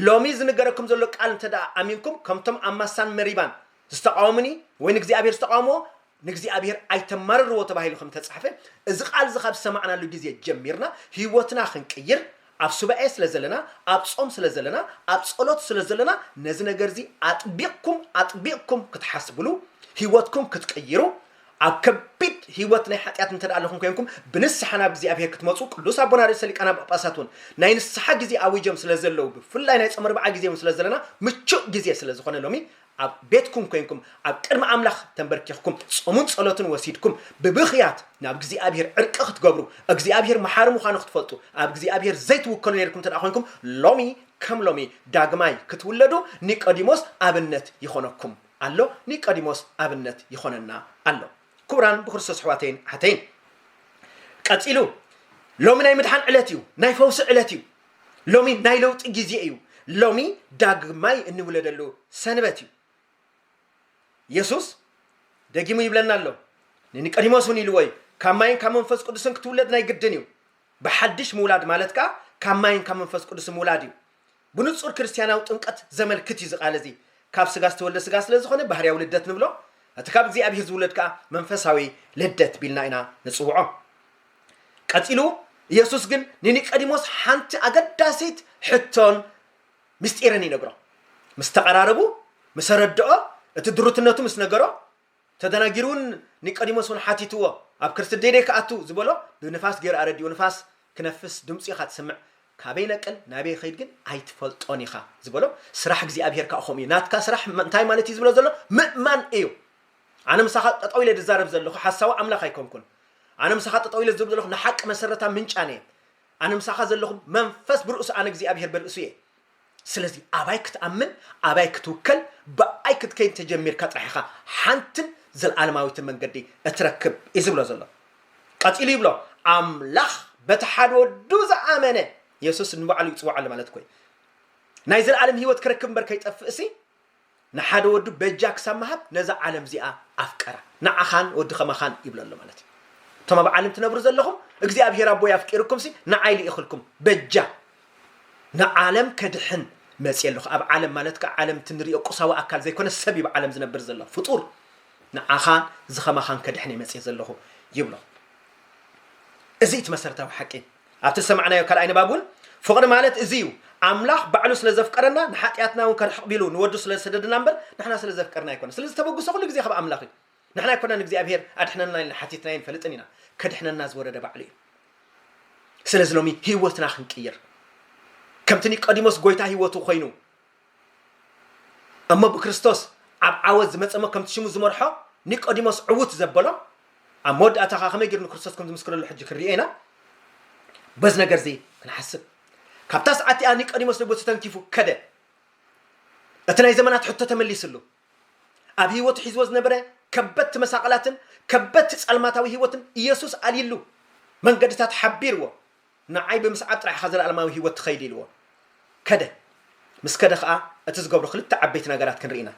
ሎሚ ዝንገረኩም ዘሎ ቃል እንተ ደኣ ኣሚንኩም ከምቶም ኣብ ማሳን መሪባን ዝተቃወሙኒ ወይ ንእግዚኣብሔር ዝተቃወምዎ ንእግዚኣብሔር ኣይተማርርዎ ተባሂሉ ከም ተጻሕፈ እዚ ቃል እዚ ካብ ሰማዕናሉ ግዜ ጀሚርና ህይወትና ክንቅይር ኣብ ሱባኤ ስለ ዘለና ኣብ ጾም ስለ ዘለና ኣብ ጸሎት ስለ ዘለና ነዚ ነገር እዚ ኣጥቢቕኩም ኣጥቢቕኩም ክትሓስብሉ ህይወትኩም ክትቅይሩ ኣብ ከቢድ ህይወት ናይ ሓጢኣት እንተ ኣለኹም ኴንኩም ብንስሓ ናብ እግዚኣብሔር ክትመጹ ቅዱስ ኣቦና ርእሰ ሊቃነ ጳጳሳት እውን ናይ ንስሓ ግዜ ኣዊጆም ስለ ዘለዉ ብፍላይ ናይ ጾመ ኣርብዓ ግዜ እውን ስለ ዘለና ምቹእ ግዜ ስለ ዝኾነ ሎሚ ኣብ ቤትኩም ኴንኩም ኣብ ቅድሚ ኣምላኽ ተንበርኪኽኩም ጾሙን ጸሎትን ወሲድኩም ብብኽያት ናብ እግዚኣብሔር ዕርቂ ክትገብሩ እግዚኣብሔር መሓሪ ምዃኑ ክትፈልጡ ኣብ እግዚኣብሔር ዘይትውከሉ ነይርኩም እንተ ኾንኩም ሎሚ ከም ሎሚ ዳግማይ ክትውለዱ ኒቆዲሞስ ኣብነት ይኾነኩም። ኣሎ ኒቀዲሞስ ኣብነት ይኾነና ኣሎ ክቡራን ብክርስቶስ ኣሕዋተይን ኣሓተይን ቀጺሉ ሎሚ ናይ ምድሓን ዕለት እዩ ናይ ፈውሲ ዕለት እዩ ሎሚ ናይ ለውጢ ግዜ እዩ ሎሚ ዳግማይ እንውለደሉ ሰንበት እዩ የሱስ ደጊሙ ይብለና ኣሎ ንኒቀዲሞስ እውን ኢልዎ እዩ ካብ ማይን ካብ መንፈስ ቅዱስን ክትውለድ ናይ ግድን እዩ ብሓድሽ ምውላድ ማለት ከዓ ካብ ማይን ካብ መንፈስ ቅዱስ ምውላድ እዩ ብንጹር ክርስትያናዊ ጥምቀት ዘመልክት እዩ እዚ ቃል እዚ። ካብ ስጋ ዝተወልደ ስጋ ስለ ዝኾነ ባህርያዊ ልደት ንብሎ፣ እቲ ካብ እግዚኣብሄር ዝውለድ ከኣ መንፈሳዊ ልደት ቢልና ኢና ንጽውዖ። ቀጺሉ ኢየሱስ ግን ንኒቀዲሞስ ሓንቲ ኣገዳሲት ሕቶን ምስጢርን ይነግሮ። ምስ ተቐራረቡ፣ ምስ ኣረድኦ፣ እቲ ድሩትነቱ ምስ ነገሮ፣ ተደናጊሩውን ኒቆዲሞስ ውን ሓቲትዎ ኣብ ክርስትዴዴ ክኣቱ ዝበሎ ብንፋስ ጌሩ ኣረዲኡ ንፋስ ክነፍስ ድምጹ ኢኻ ትስምዕ ካበይ ይነቅል ናበይ ይኸይድ ግን ኣይትፈልጦን ኢኻ ዝበሎ ስራሕ እግዚኣብሄር ካኣ ከምኡ እዩ ናትካ ስራሕ እንታይ ማለት እዩ ዝብሎ ዘሎ ምእማን እዩ ኣነ ምሳኻ ጠጠው ኢለ ዝዛረብ ዘለኹ ሓሳዊ ኣምላኽ ኣይኮንኩን ኣነ ምሳኻ ጠጠው ኢለ ዝብል ዘለኹ ንሓቂ መሰረታ ምንጫን እየ ኣነ ምሳኻ ዘለኹ መንፈስ ብርእሱ ኣነ እግዚኣብሄር በርእሱ እየ ስለዚ ኣባይ ክትኣምን ኣባይ ክትውከል ብኣይ ክትከይድ ተጀሚርካ ጥራሕ ኢኻ ሓንትን ዘልኣለማዊትን መንገዲ እትረክብ እዩ ዝብሎ ዘሎ። ቀጺሉ ይብሎ ኣምላኽ በቲ ሓደ ወዱ ዝኣመነ የሱስ ንባዕሉ ይጽውዓሉ ማለት እኮ እዩ። ናይ ዘልኣለም ህይወት ክረክብ እምበር ከይጠፍእሲ ንሓደ ወዱ በጃ ክሳብ ምሃብ ነዛ ዓለም እዚኣ ኣፍቀራ ንዓኻን ወዲ ከማኻን ይብሎ ኣሎ ማለት እዩ እቶም ኣብ ዓለም ትነብሩ ዘለኹም እግዚኣብሄር ኣቦይ ኣፍቂርኩምሲ ንዓይ ልኢኽልኩም በጃ ንዓለም ከድሕን መፅየ ኣለኹ ኣብ ዓለም ማለት ከዓ ዓለም እቲ ንሪኦ ቁሳዊ ኣካል ዘይኮነ ሰብ እዩ ዓለም ዝነብር ዘሎ ፍጡር ንዓኻን ዝኸማኻን ከድሕን እየ መፅየ ዘለኹ ይብሎ እዚ እቲ መሰረታዊ ሓቂ ኣብቲ ዝሰማዕናዮ ካልኣይ ንባብ እውን ፍቕሪ ማለት እዚ እዩ፣ ኣምላኽ ባዕሉ ስለ ዘፍቀረና ንሓጢኣትና እውን ከርሕቕ ቢሉ ንወዱ ስለ ዝሰደደና እምበር ንሕና ስለ ዘፍቀርና ኣይኮነን። ስለዚ ተበግሶ ኩሉ ግዜ ካብ ኣምላኽ እዩ። ንሕና ኣይኮናን ንእግዚኣብሄር ኣድሕነና ኢልና ሓቲትናዮ ንፈልጥን ኢና። ከድሕነና ዝወረደ ባዕሉ እዩ። ስለዚ ሎሚ ህይወትና ክንቅይር ከምቲ ኒቆዲሞስ ጎይታ ህይወቱ ኮይኑ እሞ ብክርስቶስ ኣብ ዓወት ዝመጸሞ ከምቲ ሽሙ ዝመርሖ ኒቆዲሞስ ዕውት ዘበሎ ኣብ መወዳእታ ከኣ ከመይ ጌሩ ንክርስቶስ ከም ዝምስክረሉ ሕጂ ክንሪኦ ኢና በዚ ነገር እዚ ክንሓስብ ካብታ ሰዓት እቲኣ ኒቆዲሞስ ልቡ ተተንኪፉ ከደ እቲ ናይ ዘመናት ሕቶ ተመሊስሉ ኣብ ህይወቱ ሒዝዎ ዝነበረ ከበድቲ መሳቕላትን ከበድቲ ጸልማታዊ ህይወትን ኢየሱስ ኣልይሉ መንገድታት ሓቢርዎ ንዓይ ብምስዓብ ጥራሕ ኢኻ ዘለኣለማዊ ህይወት ትኸይድ ኢልዎ ከደ። ምስ ከደ ኸኣ እቲ ዝገብሮ ክልተ ዓበይቲ ነገራት ክንርኢ ኢና።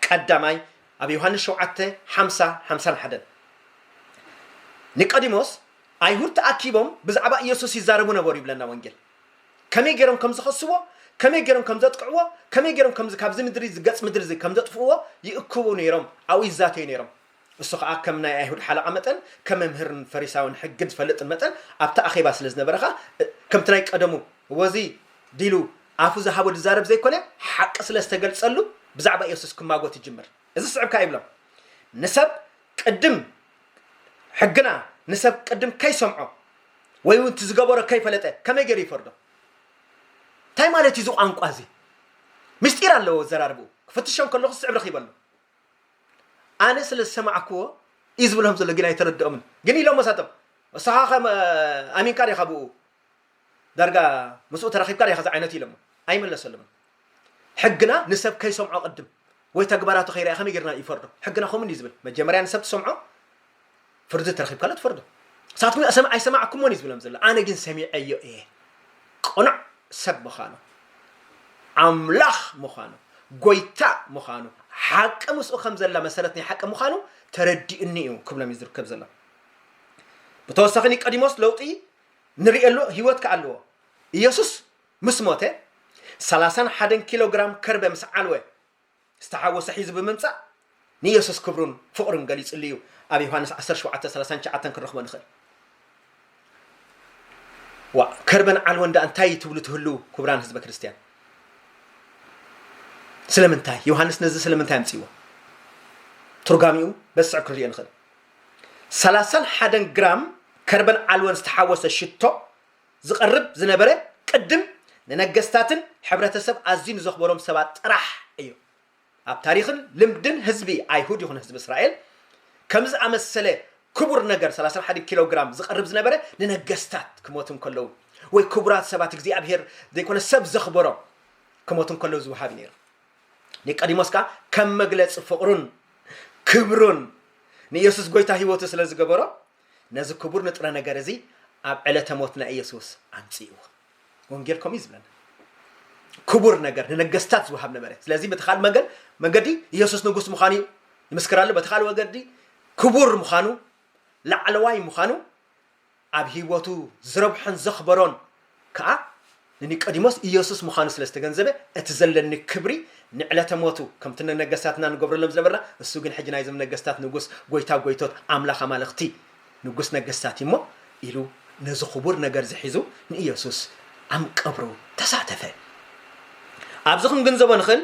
ቀዳማይ ኣብ ዮሃንስ ሸውዓተ ሓምሳ፣ ሓምሳን ሓደን ኒቆዲሞስ ኣይሁድ ተኣኪቦም ብዛዕባ ኢየሱስ ይዛረቡ ነበሩ ይብለና ወንጌል። ከመይ ገይሮም ከም ዝኸስዎ፣ ከመይ ገይሮም ከም ዘጥቅዕዎ፣ ከመይ ገይሮም ከምዚ ካብዚ ምድሪ እዚ ገጽ ምድሪ እዚ ከም ዘጥፍእዎ ይእክቡ ነይሮም፣ ኣብኡ ይዛተዩ ነይሮም። እሱ ኸኣ ከም ናይ ኣይሁድ ሓለቓ መጠን ከም መምህርን ፈሪሳውን ሕግን ዝፈልጥን መጠን ኣብቲ ኣኼባ ስለ ዝነበረ ኸኣ ከምቲ ናይ ቀደሙ ወዚ ዲሉ ኣፉ ዝሃቦ ዝዛረብ ዘይኮነ ሓቂ ስለ ዝተገልጸሉ ብዛዕባ የሱስ ክማጎት ይጅምር እዚ ዝስዕብ ከኣ ይብሎም ንሰብ ቅድም ሕግና ንሰብ ቅድም ከይሰምዖ ወይ እውን እቲ ዝገበሮ ከይፈለጠ ከመይ ገይሩ ይፈርዶ እንታይ ማለት እዩ እዚ ቋንቋ እዚ ምስጢር ኣለዎ ዘራርብኡ ክፍትሾም ከለኹ ዝስዕብ ረኺበሉ ኣነ ስለ ዝሰማዕክዎ እዩ ዝብሎም ዘሎ ግን ኣይተረድኦምን ግን ኢሎሞ ሳቶም እሳኻ ከ ኣሚንካ ዲኻ ብኡ ዳርጋ ምስኡ ተራኺብካ ዲኻ ዝዓይነት ኢሎሞ ኣይመለሰሎምን ሕግና ንሰብ ከይሰምዖ ቅድም ወይ ተግባራቱ ከይርኣ ከመይ ጌርና ይፈርዶ ሕግና ከምኡ እዩ ዝብል መጀመርያ ንሰብ ትሰምዖ ፍርዲ ተረኪብካሉ ትፈርዶ ንሳትኩም ኣይሰማዕኩሞን እዩ ዝብሎም ዘሎ ኣነ ግን ሰሚዐዮ እየ ቅኑዕ ሰብ ምዃኑ ኣምላኽ ምዃኑ ጎይታ ምዃኑ ሓቂ ምስኡ ከም ዘላ መሰረት ናይ ሓቂ ምዃኑ ተረዲኡኒ እዩ ክብሎም እዩ ዝርከብ ዘሎ ብተወሳኺ ኒቆዲሞስ ለውጢ ንርእየሉ ህይወት ከዓ ኣለዎ ኢየሱስ ምስ ሞተ ሰላሳን ሓደን ኪሎግራም ከርበ ምስ ዓልወ ዝተሓወሰ ሒዙ ብምምጻእ ንየሱስ ክብሩን ፍቕሩን ገሊጽሉ እዩ፣ ኣብ ዮሃንስ ዓሰርተ ሸውዓተ ሰላሳን ትሽዓተን ክንረኽቦ ንኽእል። ዋእ ከርበን ዓልቦን ደኣ እንታይ ትብሉ ትህልው ክቡራን ህዝበ ክርስትያን? ስለምንታይ ዮሃንስ ነዚ ስለምንታይ ኣምጽዎ? ትርጓሚኡ በዚ ስዕብ ክንሪኦ ንኽእል። ሰላሳን ሓደን ግራም ከርበን ዓልቦን ዝተሓወሰ ሽቶ ዝቐርብ ዝነበረ ቅድም ንነገስታትን ሕብረተሰብ ኣዝዩ ንዘኽበሮም ሰባት ጥራሕ እዩ። ኣብ ታሪኽን ልምድን ህዝቢ ኣይሁድ ይኹን ህዝቢ እስራኤል ከምዚ ዝኣመሰለ ክቡር ነገር ሰላሳን ሓደን ኪሎ ግራም ዝቐርብ ዝነበረ ንነገስታት ክሞቱ እንከለዉ ወይ ክቡራት ሰባት እግዚኣብሄር ዘይኮነ ሰብ ዘኽበሮም ክሞቱ እንከለዉ ዝወሃብ እዩ ነይሩ። ኒቆዲሞስ ከኣ ከም መግለጺ ፍቕሩን ክብሩን ንኢየሱስ ጐይታ ህይወቱ ስለ ዝገበሮ ነዚ ክቡር ንጥረ ነገር እዚ ኣብ ዕለተ ሞት ናይ ኢየሱስ ኣምጽእዎ። ወንጌል ከምኡ እዩ ዝብለና። ክቡር ነገር ንነገስታት ዝወሃብ ነበረ። ስለዚህ በቲ ካልእ መንገድ መንገዲ ኢየሱስ ንጉስ ምዃኑ እዩ ይምስክር ኣሎ። በቲ ካልእ ወገዲ ክቡር ምዃኑ ላዕለዋይ ምዃኑ ኣብ ህይወቱ ዝረብሖን ዘኽበሮን ከኣ ንኒቀዲሞስ ኢየሱስ ምዃኑ ስለ ዝተገንዘበ እቲ ዘለኒ ክብሪ ንዕለተ ሞቱ ከምቲ ንነገሥታትና ንገብረሎም ዝነበርና እሱ ግን ሕጂ ናይዞም ነገሥታት ንጉሥ ጐይታ ጐይቶት ኣምላኽ ኣማልኽቲ ንጉሥ ነገሥታት እዩሞ ኢሉ ነዚ ኽቡር ነገርዚ ሒዙ ንኢየሱስ ኣም ቀብሩ ተሳተፈ። ኣብዚ ክንግንዘቦ ንኽእል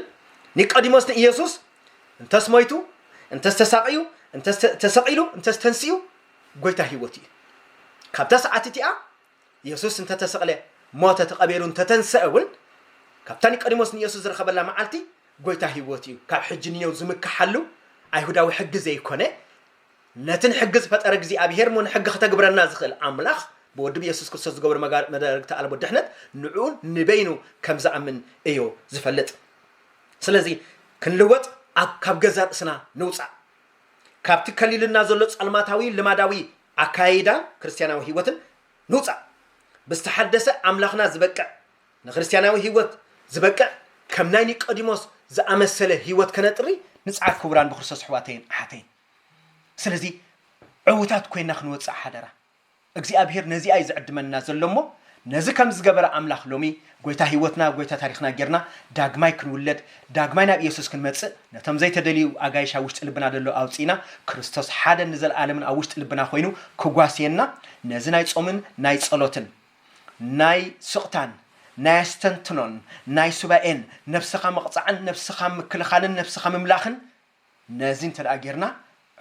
ኒቀዲሞስ ንኢየሱስ እንተስ ሞይቱ እንተስ ተሳቕዩ እንተስ ተሰቒሉ እንተስ ተንሲኡ ጐይታ ሕይወት እዩ። ካብታ ሰዓት እቲኣ የሱስ እንተ ተሰቕለ፣ ሞተ፣ ተቐቢሩ እንተ ተንስኤ እውን፣ ካብታ ኒቆዲሞስ ንየሱስ ዝረኸበላ መዓልቲ፣ ጐይታ ህይወት እዩ። ካብ ሕጂ ንየው ዝምከሓሉ ኣይሁዳዊ ሕጊ ዘይኰነ፣ ነቲ ንሕጊ ዝፈጠረ እግዚኣብሄር እሞ ንሕጊ ከተግብረና ዝኽእል ኣምላኽ ብወዱ ብየሱስ ክርስቶስ ዝገበሮ መዳርግቲ ኣልቦ ድሕነት ንዕኡ ንበይኑ ከም ዝኣምን እዩ ዝፈልጥ። ስለዚ ክንልወጥ ኣብ ካብ ገዛእ ርእስና ንውጻእ። ካብቲ ከሊሉና ዘሎ ጸልማታዊ ልማዳዊ ኣካያይዳ ክርስትያናዊ ህይወትን ንውጻእ። ብዝተሓደሰ ኣምላኽና ዝበቅዕ፣ ንክርስትያናዊ ህይወት ዝበቅዕ ከም ናይ ኒቆዲሞስ ዝኣመሰለ ህይወት ከነጥሪ ንጽዓር ክቡራን ብክርስቶስ ኣሕዋተይን ኣሓተይን። ስለዚ ዕውታት ኮይና ክንወጽእ ሓደራ። እግዚኣብሄር ነዚኣ እዩ ዝዕድመና ዘሎ እሞ ነዚ ከም ዝገበረ ኣምላኽ ሎሚ ጐይታ ህይወትና ጐይታ ታሪኽና ጌርና ዳግማይ ክንውለድ ዳግማይ ናብ ኢየሱስ ክንመጽእ ነቶም ዘይተደልዩ ኣጋይሽ ኣብ ውሽጢ ልብና ደሎ ኣውጺእና ክርስቶስ ሓደን ንዘልኣለምን ኣብ ውሽጢ ልብና ኮይኑ ክጓስየና ነዚ ናይ ጾምን ናይ ጸሎትን ናይ ስቕታን ናይ ኣስተንትኖን ናይ ሱባኤን ነብስኻ ምቕጻዕን ነብስኻ ምክልኻልን ነብስኻ ምምላኽን ነዚ እንተ ገይርና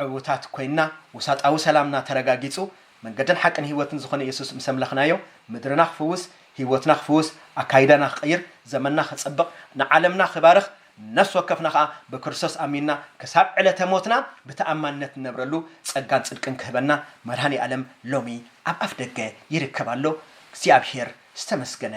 ዕውታት ኰይንና፣ ውሳጣዊ ሰላምና ተረጋጊጹ፣ መንገድን ሓቅን ህይወትን ዝዀነ የሱስ ምስ ኣምለኽናዮ፣ ምድርና ክፍውስ፣ ህይወትና ክፍውስ፣ ኣካይዳና ክቕይር፣ ዘመንና ክጽብቕ፣ ንዓለምና ክባርኽ፣ ነፍሲ ወከፍና ኸኣ ብክርስቶስ ኣሚንና ክሳብ ዕለተ ሞትና ብተኣማንነት ንነብረሉ ጸጋን ጽድቅን ክህበና መድሃኔ ኣለም ሎሚ ኣብ ኣፍደገ ይርከብ ኣሎ። እግዚኣብሄር ዝተመስገነ